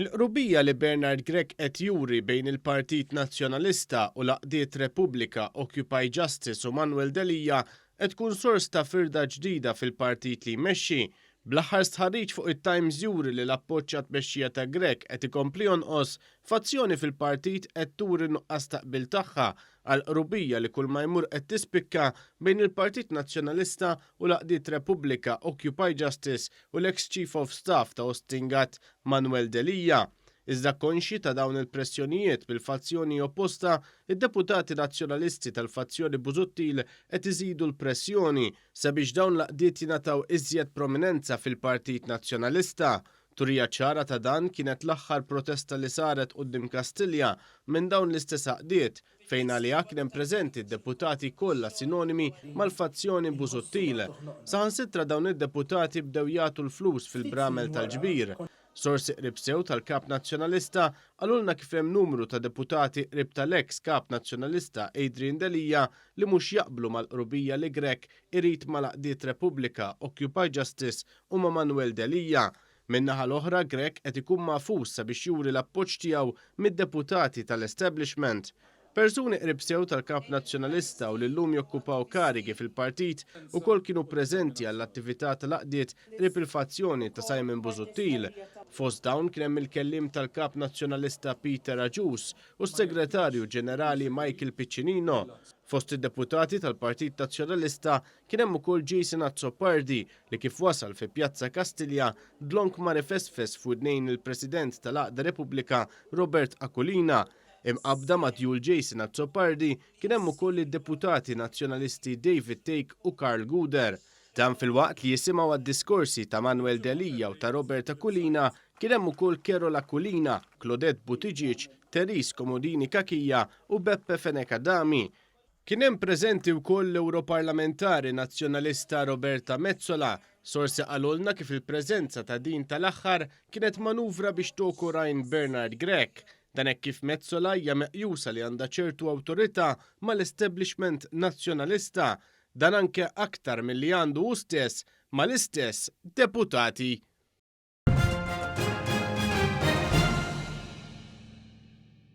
Il-qrubija li Bernard Grech qed juri bejn il-Partit Nazzjonalista u l-għaqdiet Repubblika, Occupy Justice u Manuel Delia qed tkun sors ta' firda ġdida fil-partit li jmexxi. Bl-aħħar stħarriġ fuq it-Times juri li l-appoġġ għat-tmexxija ta' Grech qed ikompli jonqos, fazzjoni fil-partit qed turi n-nuqqas ta' qbil tagħha għall-qrubija li kulma jmur qed tispikka bejn il-Partit Nazzjonalista u l-għaqdiet Repubblika, Occupy Justice u l-eks Chief of Staff ta' Ostingat, Manuel Delia. Iżda konxji ta' dawn il-pressjonijiet mill-fazzjoni opposta, id-deputati Nazzjonalisti tal-fazzjoni Busuttil qed iżidu l-pressjoni sabiex dawn l-għaqdiet jingħataw iżjed prominenza fil-Partit Nazzjonalista. Turija ċara ta' dan kienet l-aħħar protesta li saret quddiem Kastilja minn dawn l-istess għaqdiet, fejn għaliha kien hemm preżenti d-deputati kollha sinonimi mal-fazzjoni Busuttil. Saħansitra dawn id-deputati bdew jagħtu l-flus fil-bramel tal-ġbir. Sorsi qrib sew tal-Kap Nazzjonalista qalulna kif hemm numru ta' deputati qrib tal-eks Kap Nazzjonalista Adrian Delia li mhux jaqblu mal-qrubija li Grech irid mal-għaqdiet Repubblika, Occupy Justice u ma' Manuel Delia. Min-naħa l-oħra, Grech qed ikun magħfus sabiex juri l-appoġġ tiegħu mid-deputati tal-establishment. Persuni qrib sew tal-Kap Nazzjonalista u li llum jokkupaw karigi fil-partit ukoll kienu preżenti għall-attività tal-għaqdiet qrib il-fazzjoni ta' Simon Busuttil. Fost dawn kien hemm il-Kelliem tal-Kap Nazzjonalista Peter Agius u s-Segretarju Ġenerali Michael Piccinino. Fost id-deputati tal-Partit Nazzjonalista Kien hemm ukoll Jason Azzopardi li kif wasal fi Pjazza Kastilja, dlonk mar ifesfes f'widnejn il-President tal-Għaqda Repubblika Robert Aquilina. Imqabbda ma' djul Jason Azzopardi kien hemm ukoll id-Deputati Nazzjonalisti David Thake u Karl Guder. Dan filwaqt li jisimgħu għad-diskorsi ta' Manuel Delia u ta' Robert Aquilina kien hemm ukoll Carol Aquilina, Claudette Buttigieg, Therese Comodini Cachia u Beppe Fenech Adami. Kien hemm preżenti wkoll l-Ewroparlamentari Nazzjonalista Roberta Metsola. Sorsi qalulna kif il-preżenza ta' din tal-aħħar kienet manuvra biex toku rajn Bernard Grech. Dan hekk kif Metsola hija meqjusa li għandha ċertu awtorità mal-establishment Nazzjonalista, dan anke aktar milli għandu hu stess mal-istess deputati.